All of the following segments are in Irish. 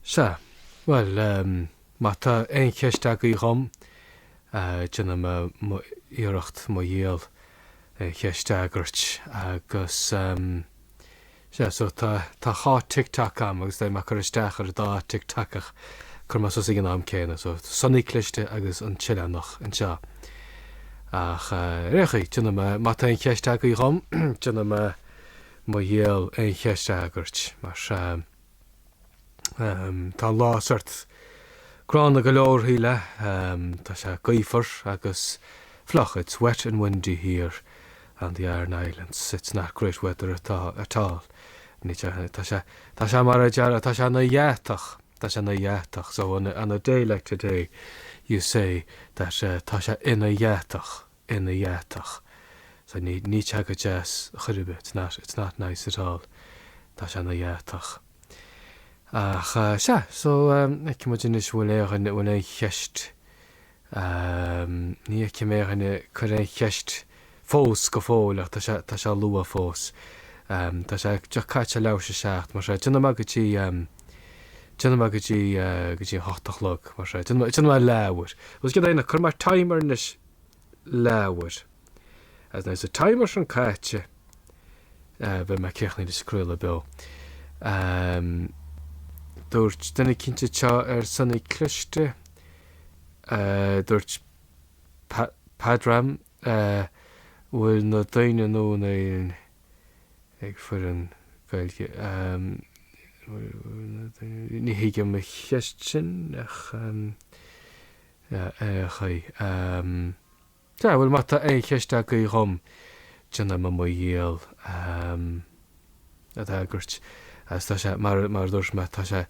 Sea. Bhuel, má tá aon cheist agaibh dhom, déanfaidh mé iarracht mo dhícheall aon cheist a fhreagairt. Agus, sea, so tá dhá tic toc agam agus beidh mé ag cur isteach ar an dá tic toc ach cuirfidh mé suas ag an am céanna. So, Sonaí Cliste agus An tOileánach anseo. Ach, ar aon chaoi, déanfaidh mé, má tá aon cheist agaibh dhom, déanaim. Mo dhícheall aon cheist a fhreagairt, mar sea. Tá an lá sórt gránna go leor, Shíle. Tá sé gaofar agus fliuch, it's wet and windy here on the Aran Islands, it's not great weather at at all. Tá sé, tá sé mar a déarfá, tá sé 'na dheatach, tá sé 'na dheatach, so on a on a day like today you say that tá sé ina dheatach. ina dheatach. So ní, níl sé go deas chor ar bith, it's not, it's not nice at all. Tá sé ina dheatach. Ach eh, sea, so ehm, feicfidh muid anois an bhfuil aon duine, an bhfuil aon cheist, ehm, ní fheicim aon duine ag cur aon cheist fós, go fóill, ach tá sé, tá sé luath fós. Ehm, tá sé just caite leis a seacht, mar sea, déanfaidh mé go dtí ehm, déanfaidh mé go dtí eh, go dtí an hocht a chlog, mar sea, déanfaidh mé, déanfaidh mé leabhar. Agus céard é, cuirfidh mé timer anois. leabhar. Agus nuair atá an timer sin caite, beidh mé críochnaithe leis an craoladh beo. Dúirt duine eicínt anseo ar Sonaí Cliste, dúirt Pádraig, bhfuil na daoine nua in Éirinn ag foghlaim Gaeilge. Ní thuigim an cheist sin ach. Ar aon chaoi. Um, yeah, well, má tá aon cheist agaí dhom, déanfaidh mé mo dhícheall, um, iad a fhreagairt. Agus tá sé, mar, mar dúirt mé, tá sé,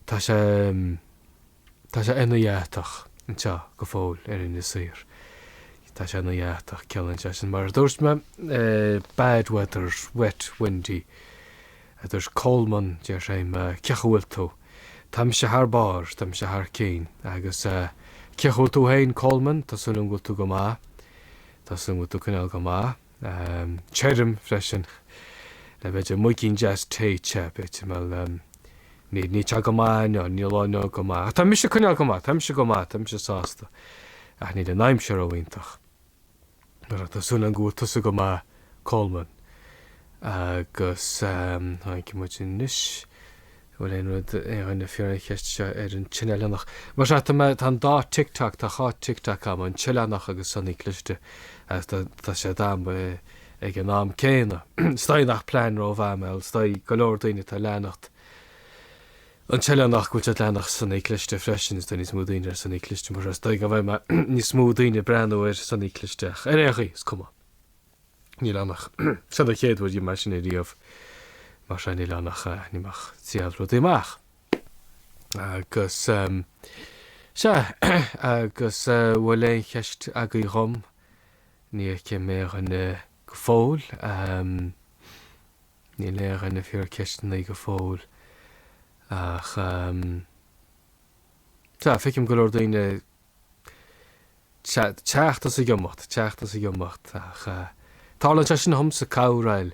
tá sé, um, tá sé ina dheatach, anseo, go fóil, ar Inis Oírr. Tá sé ina dheatach, ciallaíonn sé sin. Mar dúirt mé, eh, bad weather, wet, windy, a dúirt Coleman, deir sé, cén chaoi a bhfuil tú, Táimse thar barr, táimse thar cinn. Agus cén chaoi a bhfuil tú féin Coleman? Tá súil agam go bhfuil tú go maith. Tá súil agam go bhfuil tú ag coinneáil go maith. Déarfainn freisin le b'fhéidir moigín deas tae te, b'fhéidir, bhuel, níl, níl sé go maith inniu, níl an lá inniu go maith. Ach tá mise ag coinneáil go maith, táimse go maith, táimse sásta. Ach níl an aimsir ró-iontach. Mar tá súil agam go bhfuil tusa go maith Colman agus feicfidh muid anois an bhfuil aon rud, aon dhuine ag fiafraí ceist anseo ar an tOileánach. Mar sea, tá mé, tá an dá TikTok, tá dhá TikTok agam, an tOileánach agus Sonny Cliste agus tá, tá siad agam ag an am céanna. Is dóigh nach plean rómhaith é, is dóigh go leor daoine atá ag leanacht, an tOileánach go bhfuil siad ag leanacht Sonny Cliste freisin, is tá níos mó daoine ar Sonny Cliste mar is dóigh go bhfuil níos mó daoine ag breathnú ar Sonny Cliste ach ar aon chaoi is cuma níl ann ach sin an chéad uair dhom mar sin é a dhéanamh mar sea níl ann ach níl mé ach ag triail rudaí amach agus sea agus an bhfuil aon cheist agaibh dhom? ní fheicim aon dhuine go fóill. Níl aon dhuine ag fiafraí ceisteannaí go fóill ach tá, feicim go leor daoine teacht is ag imeacht, teacht is ag imeacht ach tarlaíonn sé sin dhomsa, corruair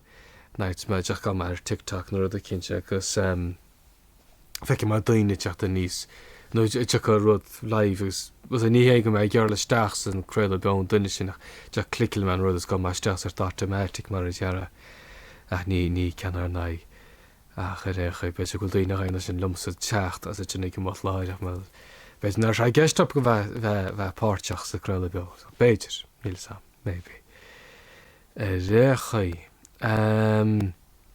nuair a théim isteach ag breathnú ar TikTok nó rud eicínt agus. feicim mar daoine ag teacht aníos nó ag déanamh rud live agus más ea ní hé go mbím ag iarraidh a ghoil isteach san craoladh beo an duine sin ach clickeálann mé an rud is gabhann mé isteach sort automatic mar a déarfá ach ní ní ceann ar n-aghaidh ach ar aon chaoi b'fhéidir go bhfuil daoine ag déanamh é sin liomsa teacht is ansin ag imeacht láithreach mar b'fhéidir nach raibh sé i gceist acu a bheith bheith bheith páirteach sa craoladh beo so b'fhéidir níl 'fhios a'm maybe ar aon chaoi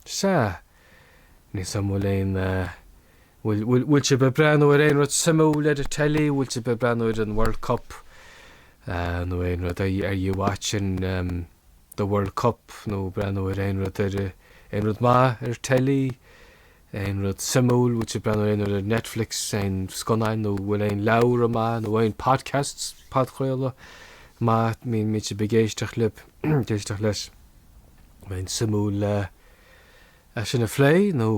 sea. Níl 'fhios a'm bhfuil aon, bhfuil, bhfuil, bhfuil sibh ag breathnú ar aon rud suimiúil ar an teilí, bhfuil sibh ag breathnú ar an World Cup nó aon rud, are, are you watching the World Cup nó breathnú ar aon rud ar, aon rud maith ar teilí, aon rud suimiúil, bhfuil sibh ag breathnú ar aon rud ar Netflix, aon scannáin nó bhfuil aon leabhra maith nó aon podcasts, podchraoladh, maith, bíonn, bíonn sibh ag éisteacht leob, ag éisteacht leis, bheadh sé suimiúil. é sin a phlé nó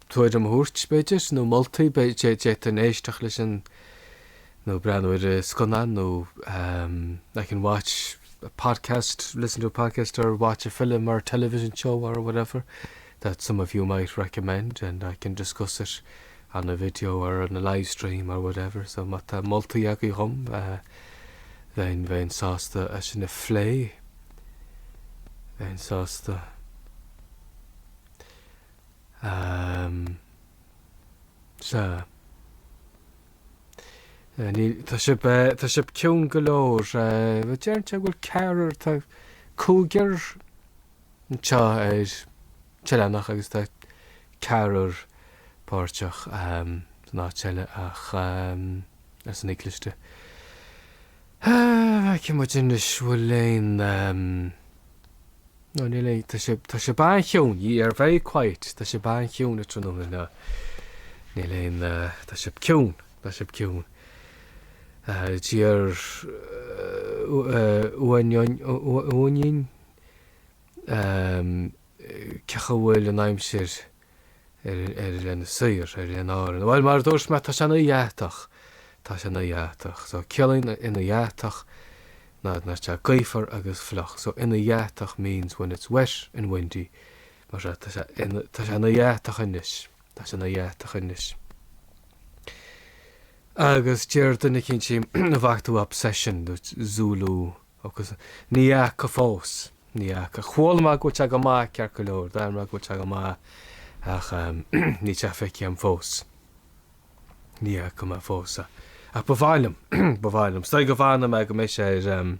tuairim a thabhairt, b'fhéidir, nó moltaí, d'fhéadfainn éisteacht leis an, nó breathnú ar an scannán nó I can watch a podcast, listen to a podcast or watch a film or a television show or whatever that some of you might recommend and I can discuss it on a video or on a live stream or whatever. So má tá moltaí agaibh dhom, bheinn sásta é sin a phlé. bheinn sásta sea Tá sibh Tá sibh ciúin go leor. Deireann sé go bhfuil ceathrar Tá cúigear anseo ar an tOileánach agus tá ceathrar páirteach san áit eile ach. arsa Ní Cliste. Feicfidh muid anois bhfuil aon Nó níl aon Tá sé Tá sibh an-chiúin Ye are very quiet Tá sibh an-chiúin tráthnóna ná níl aon Tá sibh ciúin Tá sibh ciúin D'iarr Uainín cén chaoi a bhfuil an aimsir ar Inis Oírr, ar Oileáin Árann. Bhuel, mar a dúirt mé, tá sé ina dheatach, tá sé ina dheatach. So, ciallaíonn ina dheatach ná tá sé gaofar agus fliuch. So, ina dheatach means when it's wet and windy. Mar seo, tá sé ina, tá sé ina dheatach anois, tá sé ina dheatach anois. Agus d'iarr duine eicínt ansin, an bhfaca tú Obsession, dúirt Zulu. agus ní fheaca fós, ní fheaca, chuala mé go bhfuil sé go maith ceart go leor, d'airigh mé go bhfuil sé go maith ach níl sé feicthe agam fós, ní fheaca mé fós é, ach ba mhaith liom, ba mhaith liom, is dóigh go bhfanfaidh mé go mbeidh sé ar em,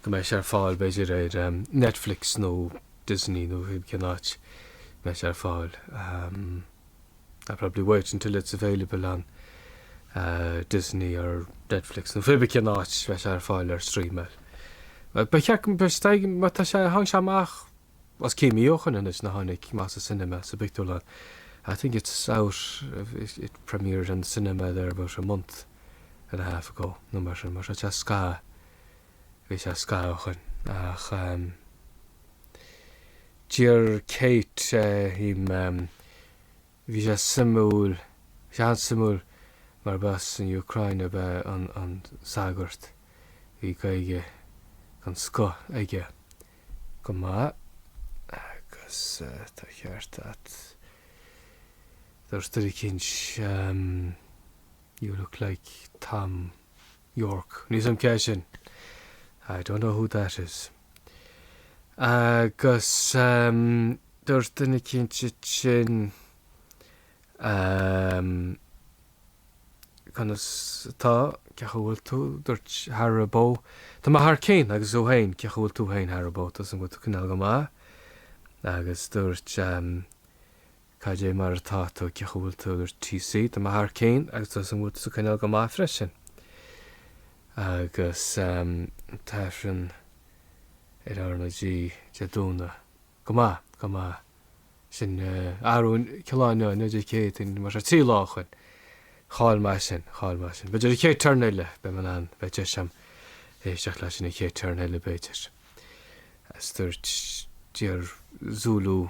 go mbeidh sé ar fáil b'fhéidir ar em, Netflix nó Disney nó cén áit a mbeidh sé ar fáil. em. I'll probably wait until it's available on Disney or Netflix nó cibé cén áit a mbeidh sé ar fáil ar streamáil. Ba cheart go mbeidh sé, má tá sé, tháinig sé amach os cionn mí ó shoin anois ó tháinig sé amach sa cinema, sa bpictiúrlann. I think it's out, it premiered in the cinema there about a month and a half ago nó mar sin, mar tá sé scaitheamh, bhí sé scaitheamh ó shoin ach. Deir Kate ehm, bhí sé suimiúil, bhí sé an-suimiúil mar ba as an Úcráin ab ea an sagart, bhí Gaeilge den scoth aige chomh maith agus tá an ceart a't, dúirt duine eicínt, you look like Tom. Yorke. Níl a fhios a'm cé hé sin. I don't know who that is. Agus ehm dúirt duine eicínt ansin ehm conas atá, cén chaoi a bhfuil tú, dúirt Haribo tá mé thar cinn agus tú féin, cén chaoi a bhfuil tú féin Haribo, tá súil a'm go bhfuil tú ag coinneáil go maith. Agus dúirt ehm, Cad é mar atá tú? Cén chaoi a bhfuil tú? Dúirt TC, Tá mé thar cinn agus tá súil a'm go bhfuil tú ag coinneáil go maith freisin. Agus an tAifreann ar R na G Dé Domhnaigh? Go maith, go maith. Sin Aaron Killanny, inniu Dé Céadaoin, mar sin, trí lá ó shoin. Chaill mé é sin, chaill mé é sin. B'fhéidir an chéad turn eile, beidh mé in ann, beidh deis agam éisteacht leis sin an chéad turn eile b'fhéidir. Agus dúirt Dear Zulu.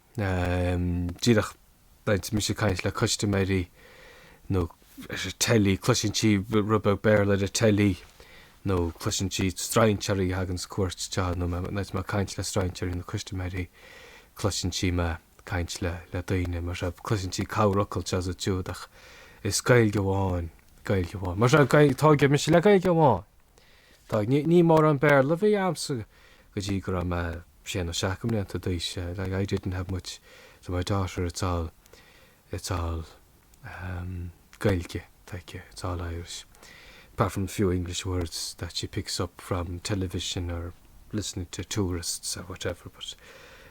Díreach nuair atá mise caint le custaiméirí nó ar an teilí, cloiseann sí rud beag Béarla ar an teilí nó cloiseann sí strainséirí a thagann ar cuairt anseo nó nuair atá mé caint le strainséirí nó custaiméirí cloiseann sí mé caint le daoine mar seo, cloiseann sí corrfhocal anseo is ansiúd ach is Gaeilge amháin, Gaeilge amháin. Mar seo tóigeadh mise le Gaeilge amháin. Ní mórán Béarla a bhí a'msa go dtí go raibh mé sé na seacht mblianta d'aois like I didn't have much so my daughter it's all it's all um Gaeilge aici it's all Irish apart from a few English words that she picks up from television or listening to tourists or whatever but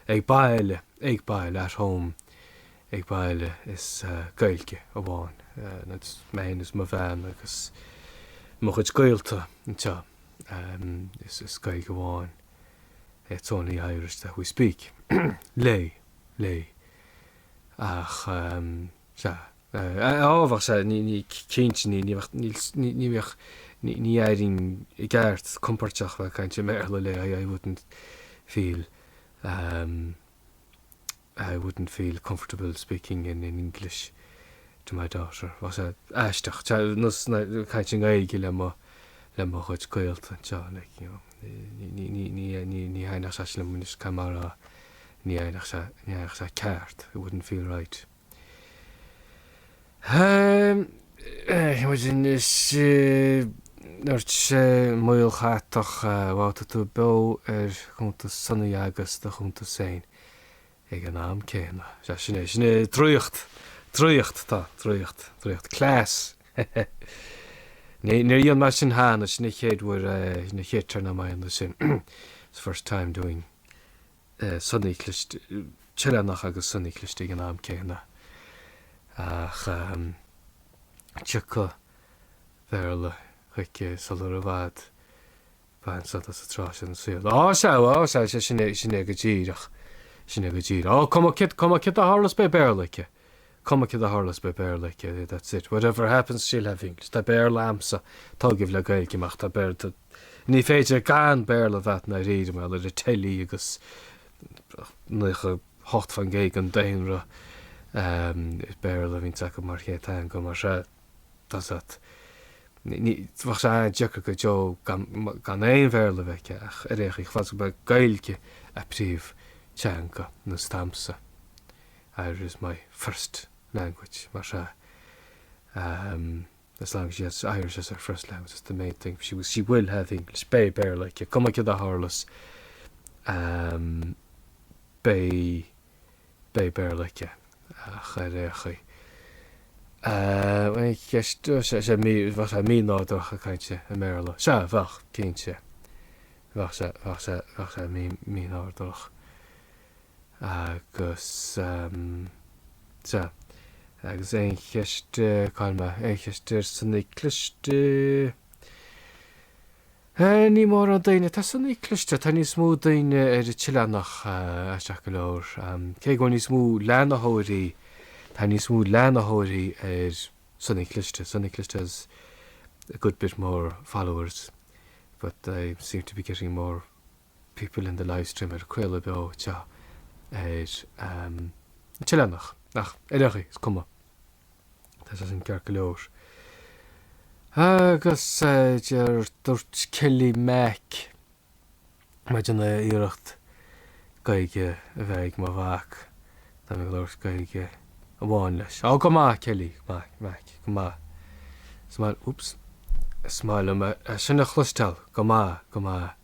ag baile ag baile at home ag baile is uh, Gaeilge amháin uh, and it's mine is mo bhean agus mo chuid gaolta anseo um, is, is Gaeilge amháin It's only Irish that we speak. léi, léi. Ach ehm, sea, eh, á bheadh sé, ní, ní, cinnte, ní, ní bheadh, níl, ní, ní bheadh, ní, ní aireoinn i gceart compóirteach bheith caint i mBéarla le, I, I wouldn't feel ehm, I wouldn't feel comfortable speaking in English to my daughter, bheadh sé aisteach, nós ná caint i nGaeilge le mo le mo chuid gaolta anseo, like, you know, ní ní ní ní ní thaitneodh sé sin liom anois cad mar a ní thaitneodh sé, ní thaitneodh sé ceart, it wouldn't feel right. Imagine anois dúirt sé Maol Chatach, wow tá tú beo ar chuntas Sonny agus do chuntas féin. Ag an am céanna. Sea, sin é, sin é, draíocht, draíocht tá, draíocht, draíocht, class. Ní, níor dhéan mé sin cheana, sin an chéad uair, sin an chéad turn a'm ag déanamh sin, it's the first time doing Sonny cliste, tOileánach agus Sonny cliste ag an am céanna. Ach tiocfaidh Béarla chuici sular i bhfad. Bain sult as an tráth sin sa saol. Á, sea, á, sea, sea, sin é, sin é go díreach, sin é go díreach. Á, cuma cad, cuma cad a tharlas beidh Béarla aici, cuma cad a tharlas beidh Béarla aici, that's it, whatever happens she'll have English. Tá Béarla a'msa, tóigeadh le Gaeilge mé ach, tá Béarla, tá, ní féidir gan Béarla a bheith a'd ndáiríre, mar gheall ar an teilí agus naocha hocht fan gcéad den daonra, eh, is Béarla a bhíonns acu mar chéad teanga, mar sea, that's it. Bheadh sé an-deacair go deo gan aon Bhéarla a bheith aici ach ar aon chaoi, chomh fada is go mbeidh Gaeilge a príomhtheanga nós damsa Irish is my first language mar sea as long as she has Irish as her first language that's the main thing she she will have English beidh Béarla aici cuma cad a tharlas beidh Beidh Béarla aici, ach ar aon chaoi. Bhuel, an cheist, bhuel, sea, sea, mí, bheadh sé mí-nádúrtha caint i mBéarla. Sea, bheadh, cinnte. Bheadh sé, bheadh sé, bheadh sé mí, mí-nádúrtha. Agus, sea, agus aon cheist, cá'il mé, aon cheist ar Sonny cliste? Eh ní mórán daoine, tá Sonaí Cliste, tá níos mó daoine ar an tOileánach, aisteach go leor, cé go bhfuil níos mó leanaitheoirí, tá níos mó leanaitheoirí ar Sonaí Cliste, Sonaí Cliste has a good bit more followers but I seem to be getting more people in the live stream ar craoladh beo seo ar an tOileánach ach ar aon chaoi is cuma tá sé sin ceart go leor. Agus deir dúirt Kelly Mac mé ag déanamh iarracht Gaeilge a bheith ag mo mhac tá mé ag labhairt Gaeilge amháin leis. Á go maith Kelly Mac Mac go maith is maith liom oops is maith liom é sin a chloisteáil go maith go maith.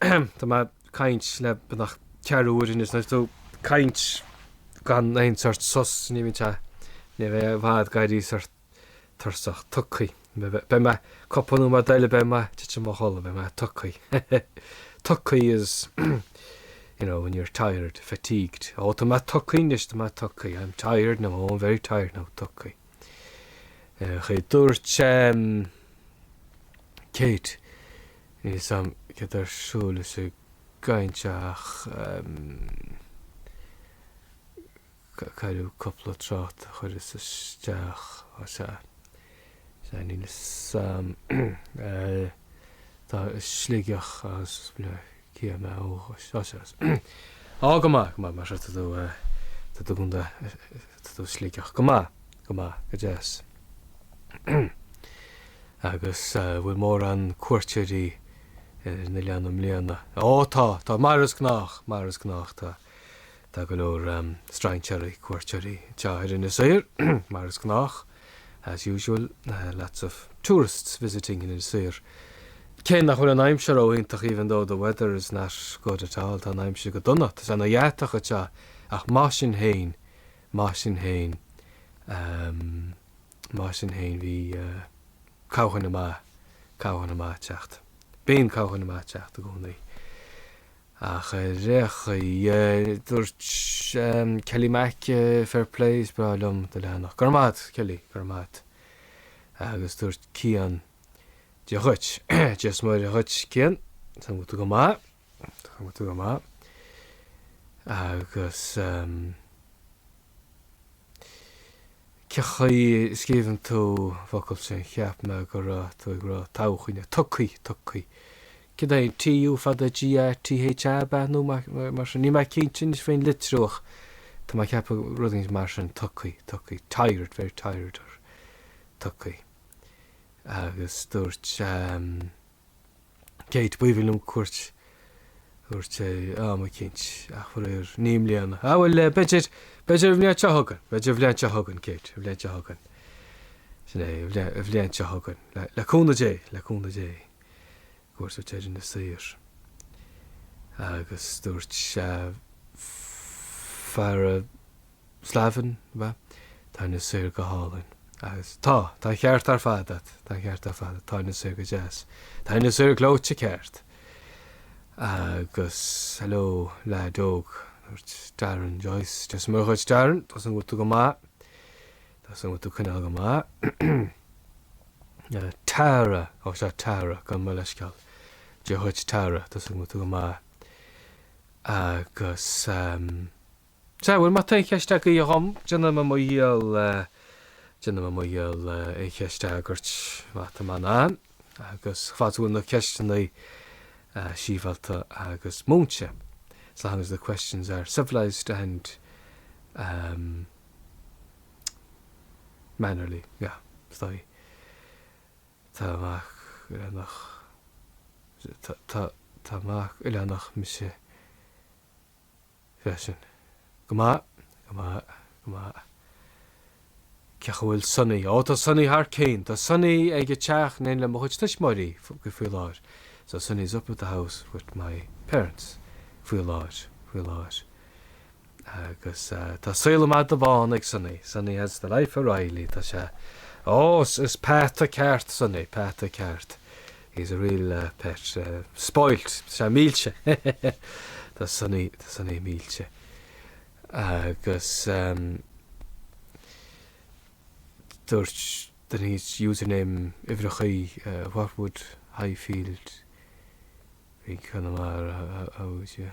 Tá mé ag caint le beagnach ceathrú uair anois, is tú ag caint gan aon sórt sos, ní bhíonn sé ní bheifeá i bhfad ag éirí sórt tuirseach tugthaí. Beidh mé cúpla nóiméad eile beidh mé tite i mo chodladh, beidh mé tugthaí. Tugthaí is you know, when you're tired, fatigued. Ó tá mé tugthaí anois, tá mé tugthaí, I'm tired now, oh I'm very tired now, tugthaí. Ach dúirt Kate, níl 'fhios a'm céard tá ar siúl leis an gcaint seo ach cailleadh cúpla trácht a chuireas isteach, á sea, sea níl 'fhios a'm tá Sligeach agus. Cia mé ó chois seo as? Á, go maith, go maith, mar sin tá tú, tá tú i gContae, tá tú i Sligeach, go maith, go maith, go deas. Agus bhfuil mórán cuairteoirí ar an oileán i mbliana? Ó, tá, tá, mar is gnách, mar is gnách, tá. Tá go leor strainséaraí, cuairteoirí, anseo ar Inis Oírr, mar is gnách, as usual, lots of tourists visiting in Inis Oírr. Cé nach bhfuil an aimsir ró iontach even though the weather is not good at all, tá an aimsir go dona, tá sé ana cheathach anseo ach mar sin féin, mar sin féin, mar sin féin bhí cabhán amach, cabhán amach ag teacht, bíonn cabhán amach ag teacht i gcónaí. Ach ar aon chaoi dúirt Kelly Mac fair play is breá liom do leathanach. Go raibh maith a't Kelly, go raibh maith a't. Agus dúirt Cian Dia dhuit, Dia's Muire dhuit Cian, tá agat tú go maith, tá agat tú go maith. Agus cé chaoi a scríobhann tú an focal sin, cheap mé go raibh tú ag rá todhchaí, nó tugthaí, tugthaí, Cad é an TU fada G T H A ba nó mar sin? Níl mé cinnte anois faoin litriú ach tá mé ag ceapadh rud éigin mar sin, tugthaí, tugthaí, tired, very tired or tugthaí. Agus dúirt ehm Kate b'aoibhinn liom cuairt a thabhairt tá mé cinnte ach faraor ní i mbliana. Ah bhuel eh b'fhéidir, b'fhéidir an bhliain seo chugainn, b'fhéidir an bhliain seo chugainn Kate, an bhliain seo chugainn. Sin é, an bhliain seo chugainn, le cúnamh Dé, le cúnamh Dé. cuairt ar Inis Oírr agus dúirt Farah Slavin, Tá Inis Oírr go hálainn. Agus tá, tá an ceart ar fad agat, tá an ceart ar fad agat, tá Inis Oírr go deas, tá Inis Oírr gleoite ceart. Agus hello leaid óg, dúirt Darren Joyce, Dia is Muire dhuit, Darren, tá súil go bhfuil tú go maith. Tá súil go bhfuil tú ag coinneáil go maith. Tara! Ó sea, Tara, gabh mo leithscéal. Dia dhuit, Tara, tá súil go bhfuil tú go maith. Agus, em. sea, bhuel, má tá aon cheist agaibh dhom, déanfaidh mé mo dhícheall, déanfaidh mé mo dhícheall aon cheist a fhreagairt má tá mé in ann. Agus fad is go bhfuil na ceisteanna sibhialta agus múinte. As long as the questions are civilised and, em. mannerly, yeah, stoi. Tá mac oileánach, tá, tá mac oileánach mise freisin. Go maith, go maith, go maith. Cén chaoi a bhfuil Sonny? Ó, tá Sonny thar cionn. Tá Sonny ag an teach in éindí le mo chuid tuismitheoirí faoi láthair. So Sonny's up at the house with my parents faoi láthair, faoi láthair. Agus tá saol an mhada bháin ag Sonny, Sonny has the life of Riley, tá sé, ó, is peata ceart Sonny, peata ceart, he's a real pet, spoilt, tá sé millte, tá Sonny, tá Sonny millte. Agus dúirt, then his username, uimhreachaí, what would Highfield be Conamara, how would you.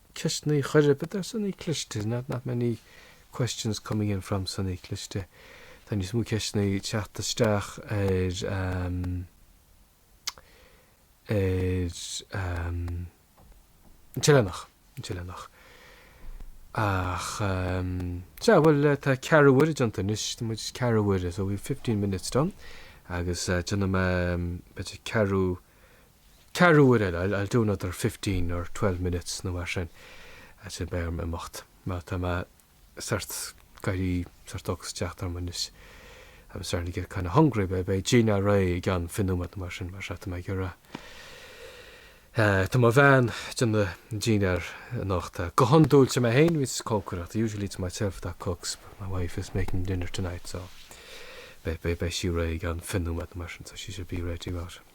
ceisteannaí a chur b'fhéidir sonaí cliste, not many questions coming in from sonaí cliste. Tá níos mó ceisteanna ag teacht isteach ar ehm ar ehm an tOileánach, an tOileánach. Ach ehm sea, bhuel eh tá ceathrú uaire déanta anois, tá muid ceathrú uaire, so we've fifteen minutes done agus eh déanfaidh mé ehm b'fhéidir ceathrú Ceathrú uair eile, I'll do another fifteen or twelve minutes nó mar sin, ansin beidh orm imeacht mar tá mé sórt ag éirí, sórt ocras ag teacht orm anois, I'm starting to get kind of hungry, beidh, beidh dinnéar réidh i gceann fiche nóiméad nó mar sin mar sea tá mé ag iarraidh eh. eh, tá mo bhean ag déanamh dinnéar anocht eh, go hiondúil sé mé féin bhíos ag cócaireacht, usually it's myself that cooks but my wife is making dinner tonight so beidh, beidh, beidh sí réidh i gceann fiche nóiméad nó mar sin so she should be ready about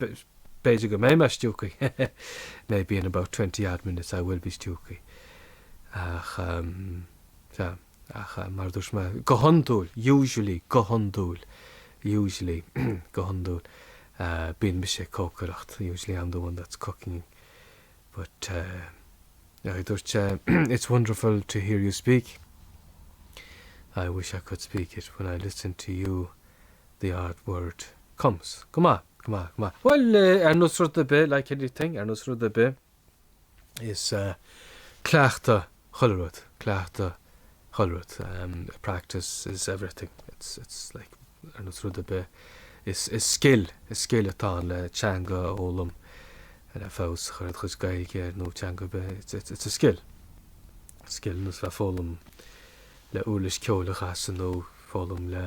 b'fhéidir go mbeidh mé stiúgthaí maybe in about twenty odd minutes I will be stiúgthaí ach eh ach mar dúirt mé go hiondúil usually go hiondúil usually go hiondúil bíonn mise ag cócaireacht usually I'm the one that's cooking but eh dúirt sé it's wonderful to hear you speak I wish I could speak it when I listen to you the odd word comes, Go maith, go maith, go maith. Bhuel, ar nós rud ar bith, like anything, ar nós rud ar bith, is cleachtadh chuile rud, cleachtadh chuile rud, practice is everything, it's, it's like, ar nós rud ar bith, is, is scil, is scil atá ann le teanga a fhoghlaim, le feabhas a chur ar do chuid Gaeilge nó teanga ar bith, it's, it's, it's a skill, skill ar nós a bheith ag foghlaim le uirlis ceoil a chasadh nó foghlaim le,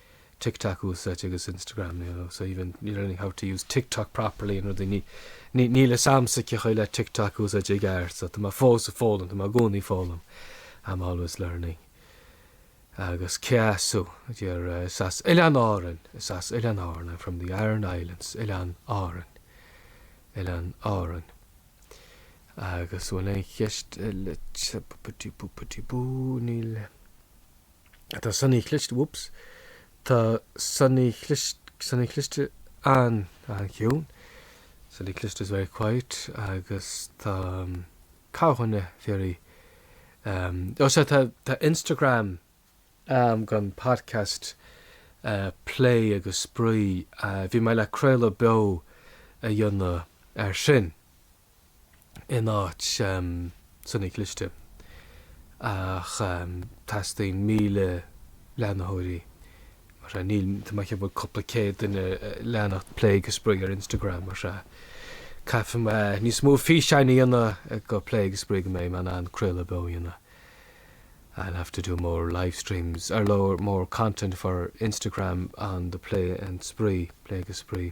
TikTok úsáid agus Instagram you know so even you're learning how to use TikTok properly and rudaí ní ní níl fhios a'msa cén chaoi le TikTok a úsáid i gceart so tá mé fós ag foghlaim tá mé i gcónaí ag foghlaim I'm always learning agus cé as thú eh is as Oileáin Árann is as Oileáin Árann I'm from the Aran Islands Oileáin Árann Oileáin Árann agus bhfuil aon cheist eile boopity boopity boo níl. Tá Suaimhneach Cliste, whoops, tá Suaimhneach Cliste, Suaimhneach Cliste an, an-chiúin, Suaimhneach Cliste is very quiet agus tá cúiseanna faoi, ehm, ó sea tá, tá Instagram, ehm, dhon podcast, eh, plé agus spraoi, eh, bhí mé le craoladh beo a dhéanamh air sin. in áit Suaimhneach Cliste ach teastaíonn míle leantóirí mar sea, níl, tá mé ag ceapadh go bhfuil cúpla céad duine ag leanacht plé agus spraoi ar Instagram mar sea, caithfidh mé níos mó físeáin a dhéanamh do plé agus spraoi go mbeidh mé in ann craoladh beo a dhéanamh I'll have to do more live streams or well, more content for Instagram on the plé and spraoi, plé agus spraoi.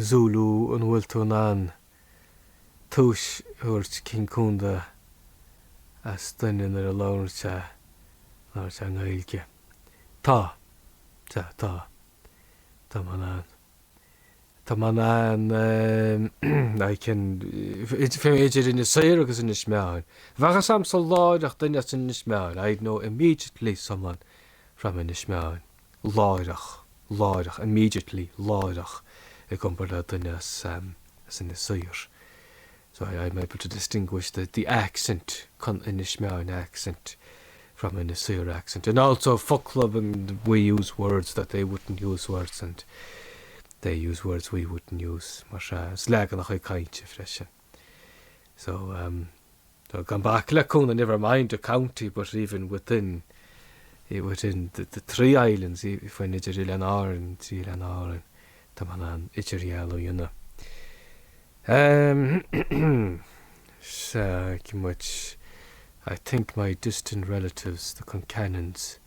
Zulu an bhfuil tú in ann tomhais a thabhairt cén condae as duine nuair a labhrann sé labhrann sé i nGaeilge? Tá. Tá. Tá. Tá mé in ann. Tá mé in ann ehm I can fiú idir Inis Oírr agus Inis Meáin. Bheadh a fhios a'msa láithreach duine as Inis Meáin I'd know immediately someone from Inis Meáin. láithreach, láithreach, immediately, láithreach i gcompar le duine as, as Inis Oírr. So I, I'm able to distinguish the, the accent, con, Inis Meáin accent from Inis Oírr accent. And also focla, we use words that they wouldn't use words and they use words we wouldn't use, mar sea, is leaganacha cainte freisin. So um so gan bac le condae never mind the county but even within eh within the the three islands eh fiú amháin idir Oileáin Árann trí Oileáin Árann tá mé in ann idirdhealú a dhéanamh. Um sea, cinn muid I think my distant relatives, the Concannons,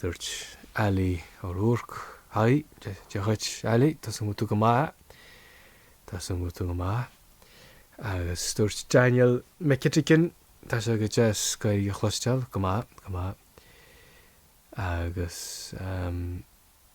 Dúirt Ali O'Rourke, Haigh, dia dhuit Ali, tá súil a'm go bhfuil tú go maith, tá súil a'm go bhfuil tú go maith. Agus dúirt Daniel McEtigan, Tá sé go deas Gaeilge a chloisteáil, go maith, go maith. Agus, ehm.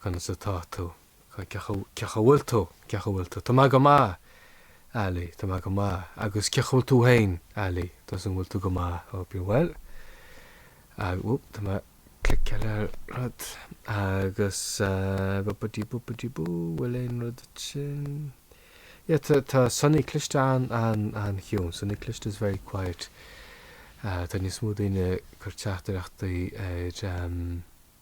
conas atá tú? cén chaoi a bhfuil tú? cén chaoi a bhfuil tú? tá mé go maith, Ali, tá mé go maith, agus cén chaoi a bhfuil tú féin, Ali, tá súil a'm go bhfuil tú go maith, hope you're well, agus, oop, tá mé ag cliceáil ar rud, agus ba-ba-dee-boo-ba-dee-boo, bhfuil aon rud ansin? yeah, tá, tá sonaí cliste an, an, an-chiúin, sonaí cliste is very quiet, tá níos mó daoine ag cur teachtaireachtaí ar,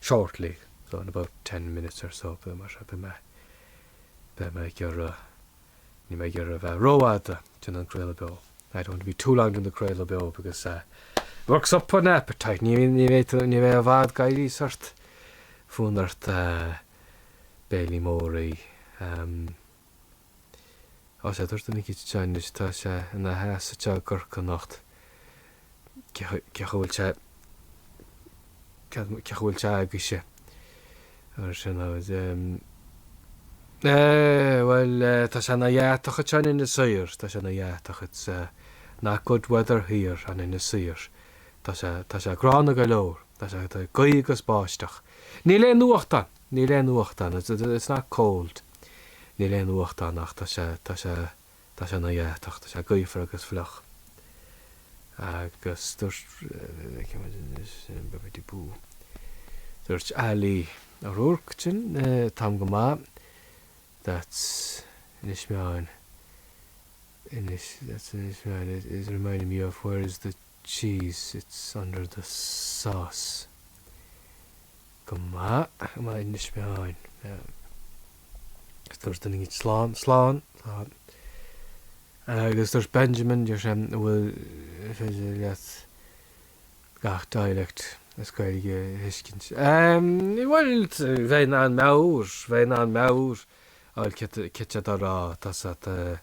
shortly, so in about ten minutes or so, beidh mé, beidh mé, beidh mé ag iarraidh, níl mé ag iarraidh a bheith rófhada ag déanamh an craoladh beo, I don't want to be too long in the craoladh beo because it works up an appetite, ní, ní bheidh tú, ní bheidh i bhfad go mbeidh sórt fonn ort béile mór a ithe, um. Agus dúirt na gcitsiteáin anois. Tá sé ina sheasamh te i gCorcaigh anocht. Cén chaoi a bhfuil sé. Cén chaoi a bhfuil sé agaibhse? Ar sin aid. Bhuel, tá sé ina dheatach ite in Inis Oírr. Tá sé ina dheatach It's not good weather here in Inis Oírr. Tá sé, tá sé gránna go leor. Tá sé, tá gaoth agus báisteach. Níl aon fhuacht ann. Níl aon fhuacht ann. It's not cold. Níl aon fhuacht ann ach tá sé, tá sé, tá sé ina dheatach, tá sé gaofar agus fliuch. Agus dúirt, feiceann muid anois, bibbidi-boo. Dúirt Ali O'Rourke, sin, táim go maith, that's Inis Meáin, Inis, that's Inis Meáin, it is reminding me of where is the cheese, it's under the sauce. go maith i mBaile na Spáinn. Agus dúirt duine dhíth, Slán, slán, slán. Agus dúirt Benjamin, deir sé, an bhfuil féidir leat gach dialect as Gaeilge a thuiscint? Bhuel, bheinn in ann meabhair, bheinn in ann meabhair a fháil, céard atá á rá, tá a fhios agat,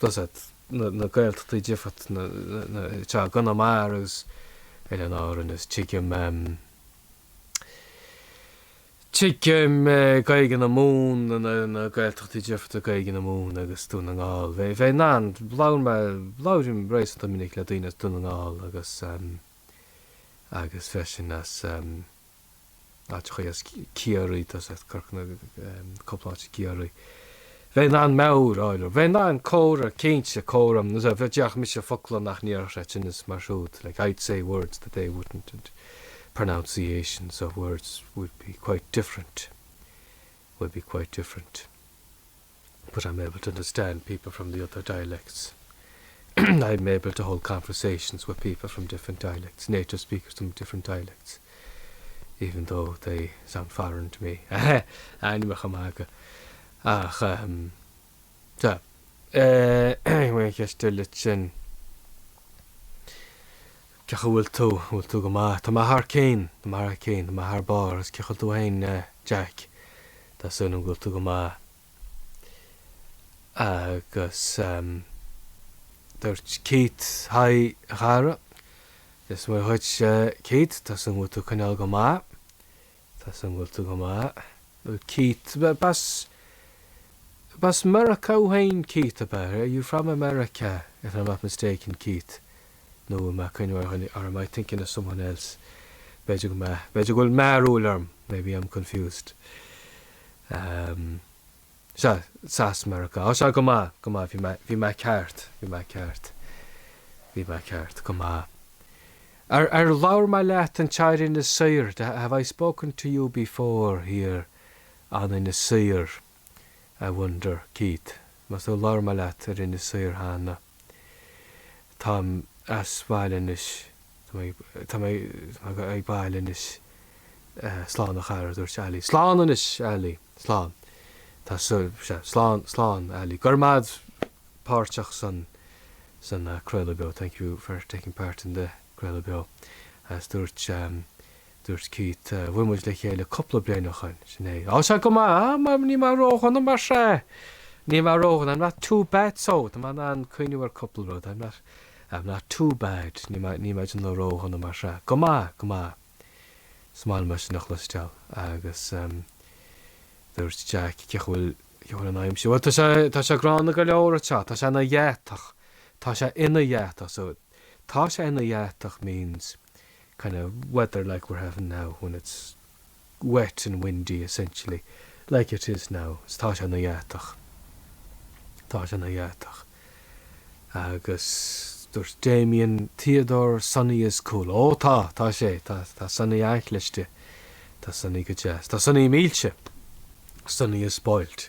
Tá a fhios agat na Gaeltachtaí difríocht atá i gConamara agus Oileáin Árann agus tuigim tuigim Gaeilge na Mumhan, na Gaeltachtaí difríocht ag Gaeilge na Mumhan agus Dún na nGall. Bheinn in ann, labhair mé, labhraím réasúnta minic le daoine as Dún na nGall agus agus freisin as Áiteachaí as Ciarraí, tá a fhios agat Corca Dhuibhne, cúpla áit i gCiarraí. Bheinn in ann meabhair a fháil air. Bheinn in ann comhrá, cinnte, comhrá. Nuair a bheadh déarfadh mise focla nach ndéarfadh siadsan is mar siúd, like I'd say words that they wouldn't and pronunciations of words would be quite different. but I'm able to understand people from the other dialects, I'm able to hold conversations with people from different dialects, native speakers from different dialects, even though they sound foreign to me. Aheh! Ainmneacha maga. Ach ehm, sea. Eh, eh, bhí an cheist eile sin, cén chaoi a bhfuil tú, an bhfuil tú go maith? Tá mé thar cinn, tá mé thar cinn, tá mé thar barr, is cén chaoi a bhfuil tú fhéin eh, Jack? Tá súil agam go bhfuil tú go maith. Agus dúirt Keith, Hi a chara. Dia is Muire dhuit Keith, tá súil agam go bhfuil tú ag coinneáil go maith. Tá súil agam go bhfuil tú go maith. Dúirt Keith, B'as, b'as Meiriceá thú féin Keith, ab ea? Are you from America, if I'm not mistaken Keith? nó an bhfuil mé ag cuimhniú ar dhuine or am I thinking of someone else? b'fhéidir go mbeadh, b'fhéidir go bhfuil mearbhall orm maybe I'm confused. Um, sea, Is as Meiriceá, oh, sea, go maith, go maith, bhí mé, bhí mé ceart, bhí mé ceart, bhí mé ceart, go maith. Ar, ar labhair mé leat anseo ar Inis Oírr, have I spoken to you before here, on Inis Oírr? I wonder, Keith, más tú labhair mé leat ar Inis Oírr cheana. Táim sa bhaile anois, tá mé abhaile anois. Slán a chara, a dúirt Ali. Slán anois, Ali. Slán. Tá sea, slán, slán, Ali. Go raibh maith agat páirteach san craoladh beo, thank you for taking part in the craoladh beo, agus dúirt Dúirt Keith, Bhuail muid le chéile cúpla bliain ó shoin. Sin é. Á, sea, go maith, á, mar níl mé ródhona, mar sea, níl mé ródhona, I'm not too bad, so, tá mé in ann cuimhneamh ar cúpla rud, I'm not, I'm not too bad, níl mé, níl mé dona, ródhona, mar sea, go maith, go maith. Is maith liom é sin a chloisteáil agus dúirt Jack, Cén chaoi a bhfuil, cén chaoi a bhfuil an aimsir? Bhuel, tá sé, tá sé gránna go leor anseo, tá sé ina dheatach, tá sé ina dheatach, so, Tá sé ina dheatach means kind of weather like we're having now when it's wet and windy essentially like it is now is tá sé ina dheatach tá sé ina dheatach agus dúirt Damien Theodore Sonny is cool ó tá tá sé tá tá Sonny an-chliste tá Sonny go deas tá Sonny millte Sonny is spoilt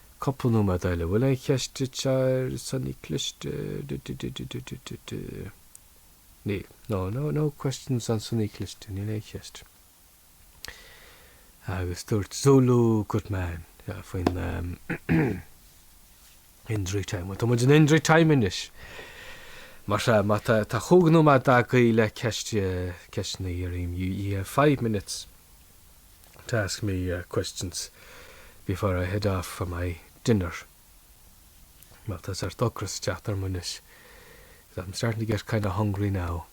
Cúpla nóiméad eile. Bhfuil aon cheist agat ar Sonny cliste? Níl. No, no, no questions on Sonny cliste. Níl aon cheist. Agus dúirt Zulu good man faoin Injury Time. Bhuel, tá muid in Injury Time anois. Mar sea, má tá, tá chúig nóiméad agaí le ceist, ceisteanna a fhiafraí dhíom. You have five minutes. to ask me questions before I head off for my dinner mar tá sórt ocras ag teacht orm anois because I'm starting to get kind of hungry now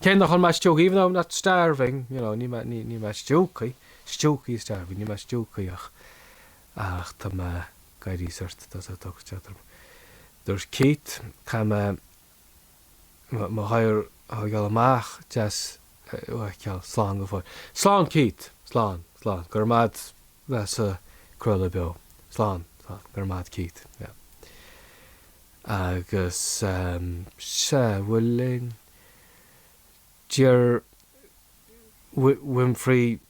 cé nach bhfuil mé stiúgtha even though I'm not starving you know níl mé níl níl mé stiúgtha stiúgtha starving níl mé stiúgtha ach ach tá mé ag éirí sórt tá sórt ocras ag teacht orm dúirt Keith tá mé mo ghair ag goil amach deas uait ceann slán go fóill slán Keith slán slán go raibh maith at bheith sa craoladh beo slán slán go raibh maith at Keith yeah agus um, se bhfuil linn deir Winfrey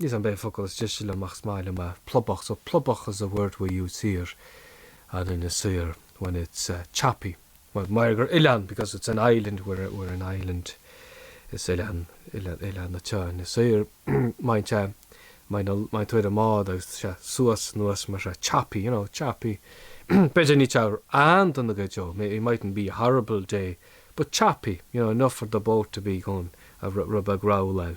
Is an b'é an focal is deise liom ach is maith liom é, plobach, so plobach is a word we use here in Inis Oírr when it's choppy mar mar gur oileán because it's an island we're we're an island is oileán oileán oileán atá in Inis Oírr má bhíonn sé má bhíonn a má bhíonn tú ar an mbád agus tá sé suas anuas mar tá sé choppy you know choppy b'fhéidir nach lá an-dona go deo may it mightn't be a horrible day but choppy you know enough for the boat to be going a rud rud beag ag rolláil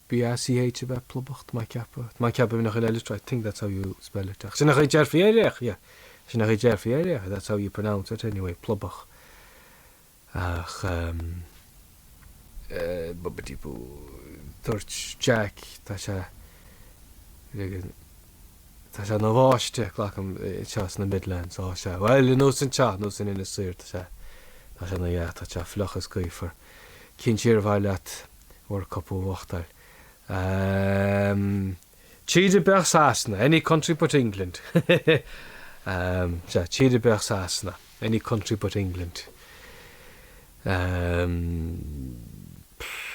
BACH a bheith plobach, tá mé ag ceapadh, tá mé ag ceapadh gurb in an chaoi le litriú I think that's how you spell it ach sin a déarfaí air ach yeah sin a déarfaí air ach that's how you pronounce it anyway plobach ach ehm bobbidi-boo dúirt Jack tá sé ligean tá sé ina bháisteach againn anseo sna Midlands tá sé bhuel nós anseo nós in Inis Oírr tá sé tá sé ina dhea tá sé fliuch is gaofar cinn siar a bhaile at World Cup a bhuachtáil. Ehm. Tír ar bith ach Sasana, any country but England. Ehm. Sea, tír ar bith ach Sasana, any country but England. Ehm. Pfff.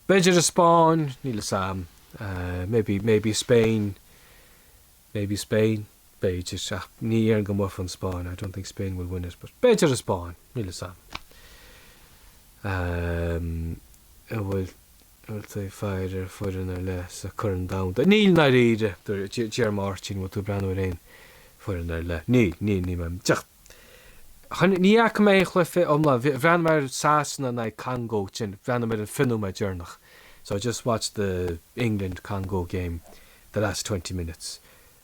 B'fhéidir an Spáinn, níl 'fhios a'm. Maybe, maybe Spain. Maybe Spain, b'fhéidir, ach ní dhéarfainn go mbuafaidh an Spáinn, I don't think Spain will win it, but b'fhéidir an Spáinn, níl 'fhios a'm. An bhfuil tú ag faire ar foireann ar leith sa Corn Domhanda? Níl i ndáiríre! Dear Máirtín, an bhfuil tú ag breathnú ar aon foireann ar leith? Níl, níl, níl mé ag teacht! Chan, ní fhaca mé aon chluiche iomlán. Bhí, bhreathnaigh mé ar Sasana in aghaidh Congó, then bhreathnaigh mé ar an fiche nóiméad deireanach. So I just watched the England Congo game, the last twenty minutes.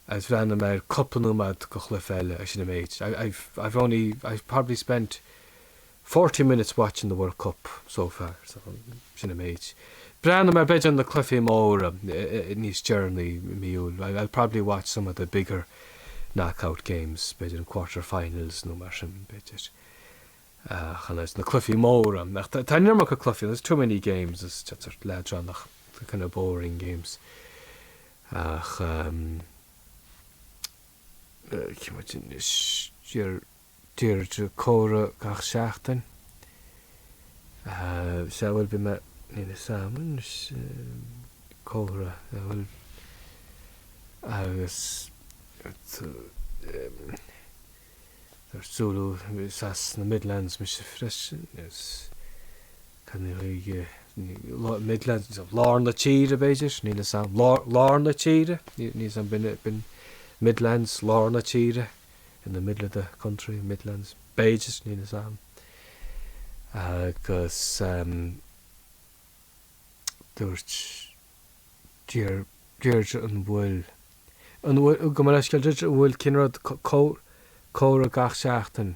Agus bhreathnaigh mé ar cúpla nóiméad de chluiche eile agus sin an méid. I, I've, I've only, I've probably spent. Forty minutes watching the World Cup so far so sin an méid. Breathnaím ar b'fhéidir na cluifí móra níos deireanaí i mí Iúil I'll probably watch some of the bigger knockout games b'fhéidir an quarter finals nó mar sin b'fhéidir ach an oiread na cluifí móra ach tá an iomarca cluifí there's too many games it's just sort of leadránach they're kind of boring games ach um, uh, Deirdre comhrá gach seachtain. Sea, bhuel bhí mé ina samhain, comhrá, sea bhuel, agus arsa Úna is as na Midlands mise freisin, is cén, Midlands, lár na tíre b'fhéidir, níl a fhios a'm, lár na tíre, níl a fhios a'm, b'in Midlands, lár na tíre. in the middle of the country, midlands, b'fhéidir, níl 'fhios a'm. Agus ehm dúirt Deir, Deirdre an bhfuil, an bhfuil, gabh mo leithscéal Deirdre, an bhfuil cén rud, comh, comhrá gach seachtain?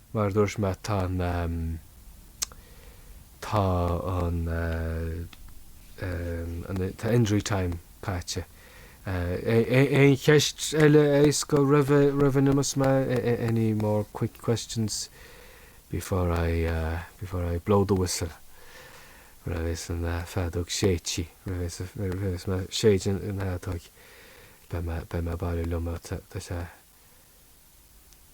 Mar a dúirt mé tá an tá an an tá injury time caite. Aon cheist eile éasca roimh roimh a n-imeos mé? Any more quick questions before I before I blow the whistle? Nuair a bheas an fheadóg séidte nuair a bheas nuair a bheas mé ag séideadh an fheadóg beidh mé beidh mé abhaile liom tá sé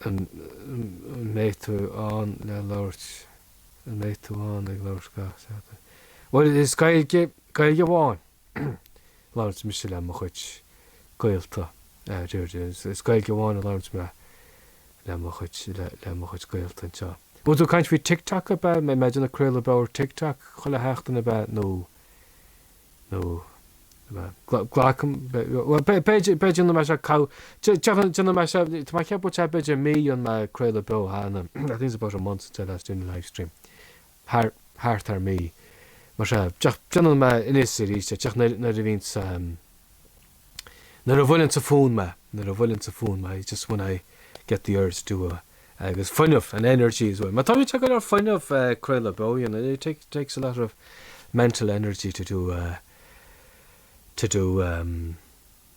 An mbeidh tú ann le labhairt? An mbeidh tú ann ag labhairt gach seachtain? Bhuel is Gaeilge, Gaeilge amháin a labhraíonn mise le mo chuid gaolta, is Gaeilge amháin a labhraíonn mé le mo chuid, le mo chuid gaolta anseo. Bhfuil tú ag caint faoi TikTok ab ea? An mbeidh mé ag déanamh craoladh beo ar TikTok chuile sheachtain ab ea nó? nó glacaim, b'fhéidir, b'fhéidir nach mbeadh sé call, deir nach mbeadh sé, tá mé ag ceapadh go bhfuil sé b'fhéidir mí ó rinne mé craoladh beo cheana, I think it's about a month since I last did a live stream, thart ar mhí, mar seo, déanann mé, anois is arís, nuair a bhíonns, Nuair a bhuaileanns an fonn mé, nuair a bhuaileanns an fonn mé, it's just when I get the urge to uh agus fuinneamh, and energy as well, mar tógann sé go leor fuinneamh craoladh beo you know, it takes a lot of mental energy to do a to do um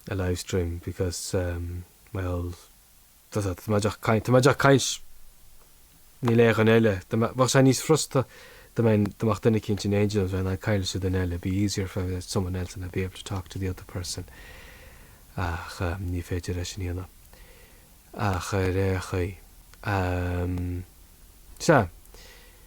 a live stream because um mar bhuel. Tá mé ag caint, tá mé ag caint, níl aon duine eile, bheadh sé níos furasta dá mbeadh duine eicínt eile ann agus, bheinn ag caint leis an duine eile, it'd be easier if I had someone else and I'd be able to talk to the other person, ach ní féidir é sin a dhéanamh ach ar aon chaoi, sea.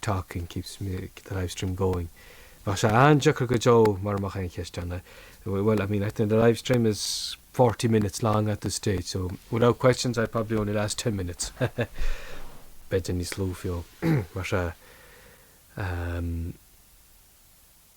talking keeps me, the live stream going bheadh sé an-deacair go deo mura mbeadh aon cheisteanna well I mean I think the live stream is forty minutes long at this stage so without questions I'd probably only last ten minutes b'fhéidir níos lú fiú mar sea.